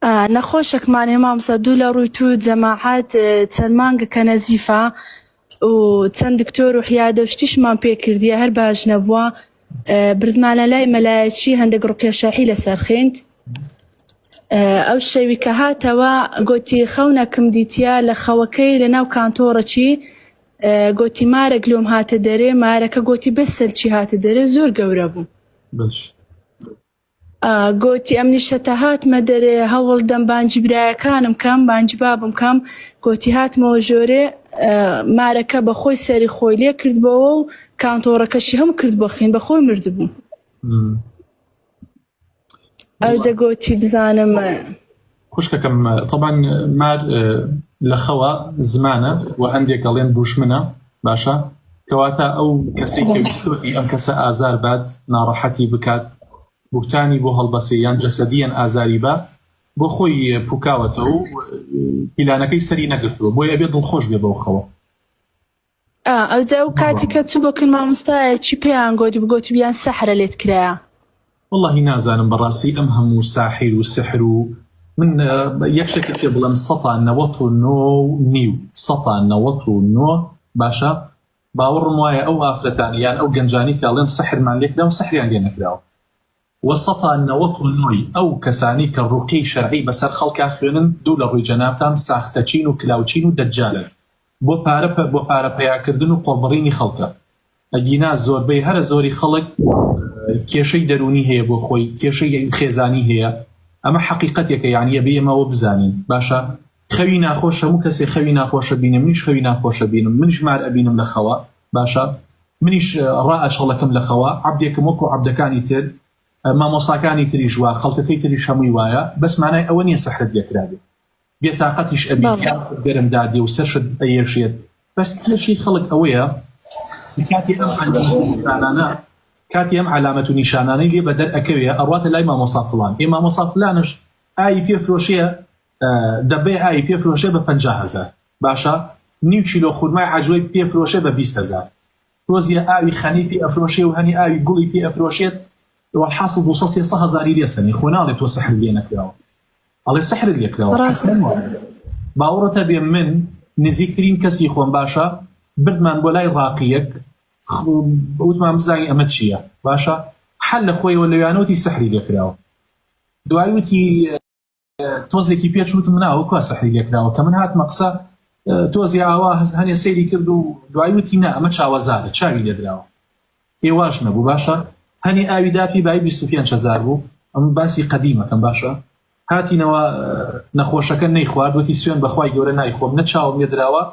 نەخۆشەک مانێ مامسا دوو لە ڕووی تو جەماعات چەند مانگە کە نەزیفە و چەند دکتۆر و حیادە و شتیشمان پێ کردیە هەر باش نەبووە بردمانە لای مەلایەکی هەندێک ڕوقیە شەحی لە سەرخیند ئەو شەوی کە هاتەوە گوتی خەونەکم دیتە لە خەوەکەی لە ناو کانتۆڕەکی گوتی مارە گلۆم هاتە دەرێ مارەکە گوتی بەسەلچی هاتە دەرێ زۆر گەورە بوو باش گۆتی، ئەمنیش هەتا هاتمە دەرێ، هەوڵ دەم بانگی برایەکانم کەم، بانگی بابم کەم. گۆتی، هاتمەوە ژۆرێ، مارەکە بە خۆی سەری خۆی لێ کردبۆوە و کانتۆڕەکەشی هەموو کرد بۆ خین، بە خۆی مردبوو. ئەوجە گۆتی، بزانم. خوشکەکەم طبعاان مار لە خەوە زمانە و هەندێک گەڵێن دوشمنە باشە کەواتە ئەو کەسی کەویستۆتی ئەم کەسە ئازار بات ناڕەحەتی بکات بورتانی بۆ هەڵبەسێ یان جەسەدیەن ئازاری بە بۆ خۆی پوکاوەتەوە و پیلانەکەی سەری نەگرتووە بۆی ئەبێ دڵخۆش بێ بەو خەوە ئەوجا و کاتی کە چوو بۆ کرد مامۆستایە چی پێیان گۆتی بگۆتی بیان سەحرە لێت کرایە واللهی نازانم بەڕاستی ئەم هەموو ساحیر و سحر و من یەک شتێک پێ بڵم سەتا نەوەت و نۆ نیو سەتا نەوەت و نۆ باشە باوەڕم وایە ئەو ئافرەتانی یان ئەو گەنجانی کاڵێن سەحرمان لێکرا و سەحریان لێ نەکراوە وە سەتا نەوەت و نۆی ئەو کەسانی کە ڕوقیەی شەرعی بەسەر خەڵکا خوێنن دوو لە ڕوی جەنابتان ساختەچین و کلاوچین و دەجالن بۆ پارە پە بۆ پارە پەیا کردن و قۆڵبڕینی خەڵکە ئەگینا زۆربەی هەرە زۆری خەڵک کێشەی دەرونی هەیە بۆ خۆی کێشەی خێزانی هەیە ئەمە حەقیقەتێکە یانی ئەبێ ئێمە ئەوە بزانین باشە خەوی ناخۆش هەموو کەسێ خەوی ناخۆشە بینێ منیش خەوی ناخۆشە بینم منیش مار ئەبینم لە خەوە باشە منیش ڕا ئەچەڵەکم لە خەوە عبدێکم وەکو عبدەکانی تر مامۆساکانی تریش وا خەڵکەکەی تریش هەمووی وایە بەس مانای ئەوە نییە سەحرت لێکرابێ بێتاقەتیش ئەبی گەرم دادێ و سەرشت ئەیەشێت بەس کێشی خەڵک ئەوەیە کاتی ئەم ئەنجامانە کاتی ئەم علامەت و نیشانانەی لێ بەدەر ئەکەوێ ئەڕاتە لای مامۆسا فلان ئێ مامۆسا فلانش ئای پێ فرۆشەیە دەبەی ئاوی پێ فرۆشێ بە پەنجا هەزار باشە نیو کیلۆ خورمای عجوەی پێ فرۆشێ بە بیست هەزار تۆزیە ئاوی خەنی پێ ئەفرۆشێ و هەنی ئاوی گوڵی پێ ئەفرۆشێت وەحاصل دو سە سێ سە هەزاری لێ سەنی خۆ ناڵێ تۆ سەحر لێ نەکراوە ئەڵێ سەحرت لێ کراوە ڕاستە باوەڕتە بێ من نزیکترین کەسی خۆم باشە بردمان بۆ لای ڕاقیەک وتمان بزانانی ئەمە چییە باشە حل لە خۆیەوە لەویانەوتی سەحری لێکراوە دوای وتی تۆزێکی پێچ وتم مناوە کوا سەحری لێکراوە کە من هاتمە قسە تۆزی ئاوا هەنێ سەیری کرد و دوایوتی نا ئەمە چاوەزارە چاوی لێدراوە ئێواش نەبوو باشە هەنی ئاوی داپی بای 25 هزار بوو ئەم باسی قەدیمەکەم باشە هاتینەوە نەخۆشەکە نەی خواردوەتی سوێن بەخوای گەورە نایخۆم نە چاوم لێدراوە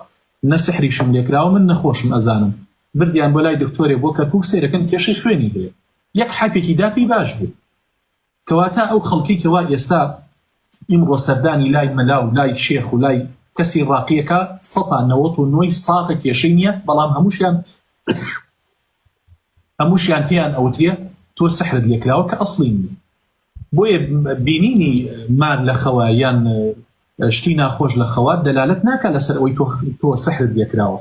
نە سحریشم لێکراوە من نەخۆشم ئەزانم بردیان بۆ لای دکتۆرێ بۆ کەرکک سێرەکەن کێشەی خوێنی بێ یەک حەپێکی داپی باش بوو کەواتە ئەو خەڵکەی کە وا ئێستا ئیمڕۆ سەردانی لای مەلا و لای شێخ و لای کەسی ڕاقی ئەکا سەتا نەوەت و نۆی ساغە کێشەی نییە بەڵام هەمووشیان هەمووشیان پێیان ئەوترێ تۆ سەحرت لێکراوە کە ئەسڵی نییە بۆیە بینینی مار لە خەوە یان شتی ناخۆش لە خەوات دەلالت ناکە لەسەر ئەوی تۆ سەحرت لێکراوە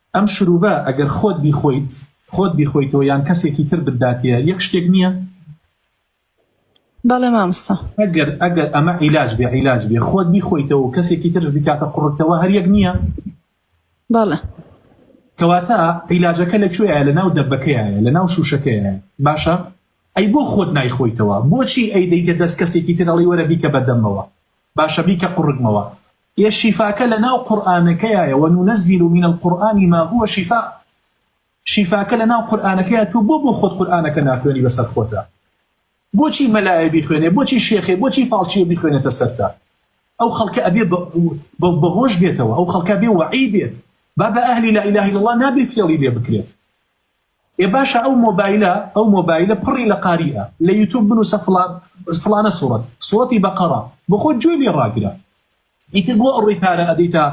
ئەم شروبە ئەگەر خۆت بیخۆیت خۆت بیخۆیتەوە یان کەسێکی تر بتداتێ یەک شتێک نییە؟ بەڵێ مامستا ئەگەر ئەگەر ئەمە عیلاج بێ عیلاج بێ خۆت بیخۆیتەوە و کەسێکی ترش بکاتە قڕتەوە هەریەک نییە بەڵێ کەواتە عیلاجەکە لە کوێە لە ناو دەبەکەیە لە ناو شوشەکەیە باشە ئەی بۆ خۆت نایخۆیتەوە بۆچی ئەی دەیتە دەست کەسێکی ترەڵی وەرە بیکە بەدەمەوە باشە بیکە قڕگمەوە یە شیفاکە لە ناو قورئانەکەیایە وننزل من القران ما هو شفاء شیفاکە لە ناو قورئانەکەیە تۆ بۆ بۆ خۆت قورئانەکە ناخوێنی بەسەر خۆتا بۆچی مەلایە بیخوێنێ بۆچی شێخێ بۆچی فاڵچیە بیخوێنێتە سەرتا ئەو خەڵکە ئەبێ بەهۆش بێتەوە ئەو خەڵکە بێ وەعی بێت با بە ئەهلی لا اله الا الله نابێ فێڵی لێ بکرێت ئێ باشە ئەو مۆبایلە ئەو مۆبایلە پڕی لە قاری ئە لە یوتوب بنوسە فڵان فڵانە سوڕەت سوڕەتی بەقەڕە بەخۆت گوێ لێ ڕاگرە ئیتر بۆ ئەوڕی پارە ئەدەیتە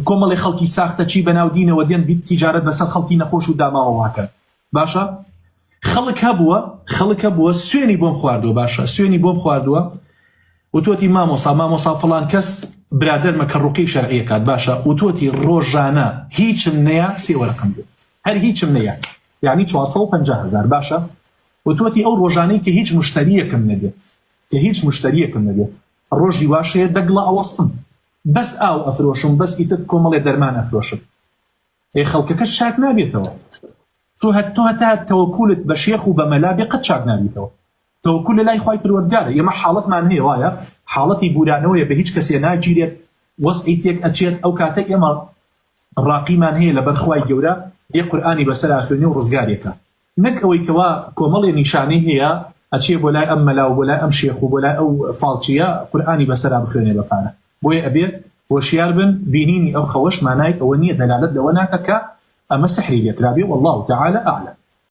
کۆمەڵی خەڵکی ساختە چی بەناو دینەوە دێن بیت تیجارەت بەسەر خەڵکی نەخۆش و داماوە واکەن باشە خەڵک هەبووە خەڵک هەبووە سوێنی بۆم خواردووە باشە سوێنی بۆم خواردووە وتۆتی مامۆسا مامۆسا فڵان کەس برادەرمە کە ڕوقی شەرعی ئەکات باشە وتۆتی ڕۆژانە هیچم نەیا سێ وەرەقەم دێت هەر هیچم نەیا یعنی چوار سەد و پەنجا هەزار باشە وتۆتی ئەو ڕۆژانەی کە هیچ مشتریەکم نەبێت کە هیچ مشتریەکم نەبێت ڕۆژی واشەیە دەگڵە ئەوەستم بەس ئاو ئەفرۆشم بەس ئیتر کۆمەڵێ دەرمان ئەفرۆشم ئەی خەڵکەکە شاک نابێتەوە تۆ هەت تۆ هەتا تەوەکولت بە شێخ و بە مەلا بێ قەت چاک نابیتەوە تەوەکول لەلای خوای پەروەردگارە ئێمە حاڵەتمان هەیە وایە حاڵەتی بورانەوەیە بەهیچ کەسێ ناگیرێت وەزعی تێک ئەچێت ئەو کاتە ئێمە ڕاقیمان هەیە لەبەر خوای گەورە دێ قورئانی بەسەرا خوێنی و ڕزگارێکە نەک ئەوەی کەوا کۆمەڵێ نیشانەی هەیە ئەچێ بۆ لای ئەم مەلا و بۆ لای ئەم شێخ و بۆ لای ئەو فاڵچیە قورئانی بەسەرا بخوێنێ بە پارە بۆیە ئەبێ هۆشیار بن بینینی ئەو خەوەش مانای ئەوە نییە دەلالت لەوە ناکە کە ئەمە سحری لێکرابێ والله تعالی اعلم